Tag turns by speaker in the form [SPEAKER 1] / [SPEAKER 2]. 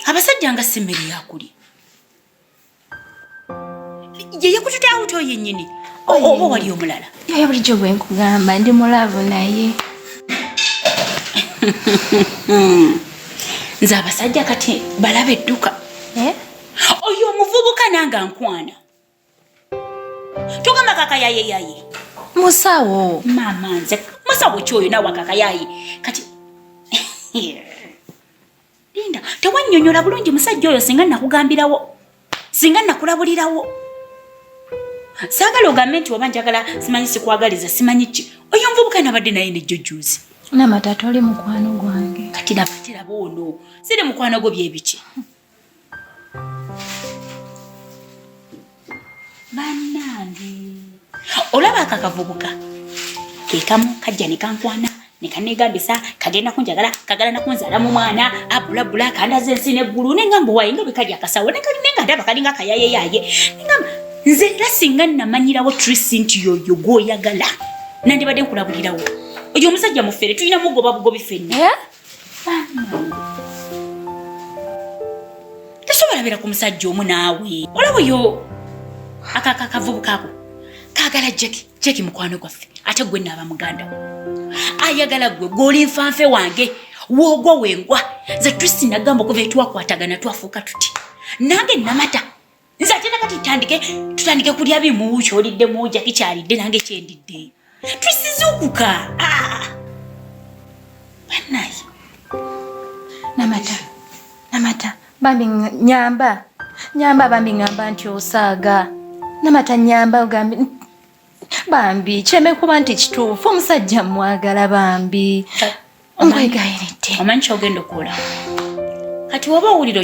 [SPEAKER 1] abasajja nga si mmere yakulya yeyekutute awuto yennyini oba wali omulala yaya bulijjo bwe
[SPEAKER 2] nkugamba ndi mulaavu naye
[SPEAKER 1] nze abasajja kati balaba edduka eh? oyo omuvubuka nange ankwana tugamba kakayaye yaye musawo
[SPEAKER 2] mama nze
[SPEAKER 1] musawo kyoyo nawe akakayaye kati linda tewanyonyola bulungi musajja oyo singa nakugambirawo singa nakulabulirawo saagala ogambe nti oba njagala simanyi sikwagaliza simanyi ki oyo nvubuka nabadde naye nejjojuuzi namatata oli
[SPEAKER 2] mukwano gwange kati nabatiraba
[SPEAKER 1] ono siri mukwano gwo byebiki bannange olaba ako akavubuka kekamu kajja ne kankwana ne kaneegambisa kagenda kunjagala kagala nakunzaala mu mwana abulabula kandaza ensi neggulu nengamba waye nga bwekali akasawo nenga ndaba kalinga kayayeyaye nengamba nze era singa namanyirawo trisi nti yoyo gwoyagala nandibadde nkulabulirawo oyo omusajja mufere tulina mugoba bugobi fenna eh? tasobola beera ku musajja omu naawe olaba yo akakavubuka ako kaagala jeki jeki mukwano gwaffe ate gwe naaba muganda ayagala gwe gwoli nfanfe wange woogwa wengwa ze tristina gamba okuva etwakwatagana twafuuka tuti nange namata nze ate nakati tutandike tutandike kulya bimu kyolidde muja kikyalidde nange kyendidde tusizukuka ah! banaye namata
[SPEAKER 2] namata bambi nyamba nyamba bambi ngamba nti osaaga namata nyamba ogambi bambi kyeme kuba nti kituufu omusajja mwagala bambi
[SPEAKER 1] omwegayiridde omanyi kyogenda okuula kati woba owuliro